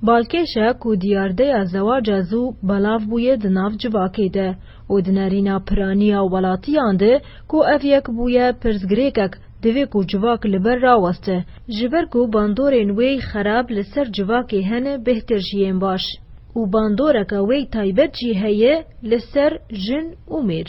Balkêş e ku diyardeya zewaca zû belav bûye di nav civakê de û di nerîna piraniya welatiyan de ku ev yek bûye pirsgirêkek divê ku civak li ber raweste ji ber ku bandorên wê xerab li ser civakê hene bêhtir ji yên baş û bandoreke wê taybet jî heye li ser jin û mêr.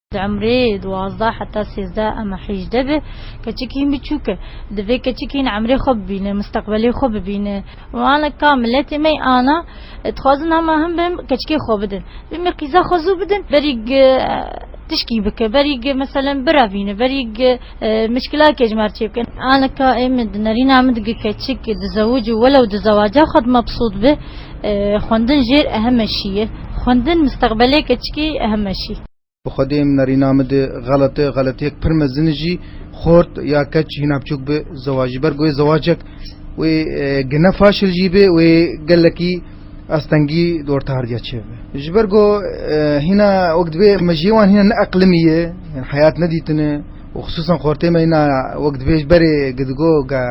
Di umrê duwazdeh heta sêzdeh ema hîjdeh be, keçikîn biçûk e. Divê keçikîn umrê xwe bibîne, misteqbelê xwe bibîne. Wan li ka miletê me ana, dixwazin hema him bi him keçikê xwe bidin. Bimî qîza xwe zû bidin, berî tişkî bike, berî meselen birevîne, berî Mişkila ke ji me re çê bikin. Aleka ê min di nerîna min dige keçik dizewic û welew di zewaca xwe de mebsût be, xwendin jêr ehem e şî ye. Xwendin misteqbelê keçikê ehem e şî. Bi xwedê ê min nerîna min di xelet e, xeletiyek pir mezin e jî. Xort ya keç hîna biçûk bi zewaj ji ber ku wê zewacek wê gine faşil jî bê, wê gelekî, Astengî di orta hardiya çê ve. Ji ber ku hîna wek divê me ji wan hîna neeqlimî ye, heyat nedîtine û xisûsan xortê me hîna wek divê ji berê ku digo ka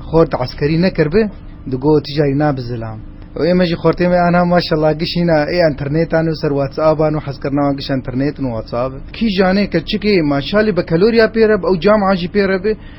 xort eskerî nekiribe digo tu carî nabe zilam. Û ême jî xortê me aniha maşallah giş hîna ê înternêtan û ser whatsapan û hezkirina wan giş înternêt û whatsape. Kîjanê keçikê ma şalê bekeloriya pê re be û camea jî pê re be,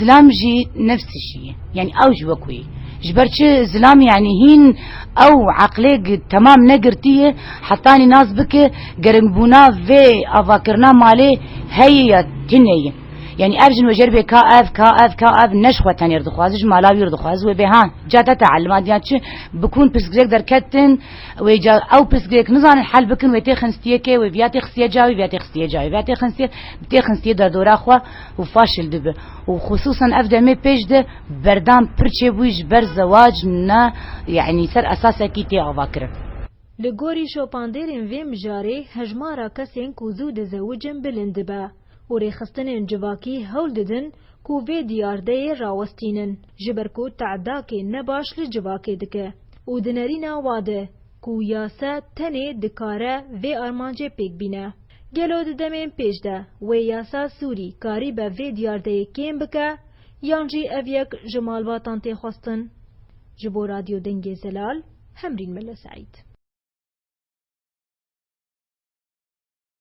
Zilam jî nefs jî ye. Yanî ew jî wek wê ye. Ji ber çi? Zilam yanî hîn ew eqlêk temam negirtî ye hetanî nas bike geringbûna vê avakirina malê heye ya tune ye. Yanî ev jin wejer bê ka ev, ka ev, ka ev ne ji xwe tenê re dixwaze ji mala wî re dixwaze wê bê ha ca te teelima diya çi bikun pirsgirêk derketin wê ca ew pirsgirêk nizanin hel bikin wê tê xinstiyê kê wê viya tê xistiye ca wê viya tê xistiye ca wê viya tê xinstiye bi tê xinstiye derdora xwe û faşîl dibe û xusûsan ev demê pêş de berdan pir çêbûyî ji ber zewac ne yanî ser esasekî tê avakirin. Li gorî şopandêrên vê mijarê hejmara kesên ku zû dizewicin bilind dibe û rêxistinên civakî hewl didin ku vê diyardeyê rawestînin ji ber ku tedakê ne baş li civakê dike û di nerîna wade ku yase tenê dikare vê armancê pêk bîne. Gelo di demên pêş de wê yasa Sûrî karîbe vê diyardeyê kêm bike yan jî ev yek ji malbatan tê xwestin? Ji bo Radyo Dengê Zelal, Hemrîn Mele Seîd.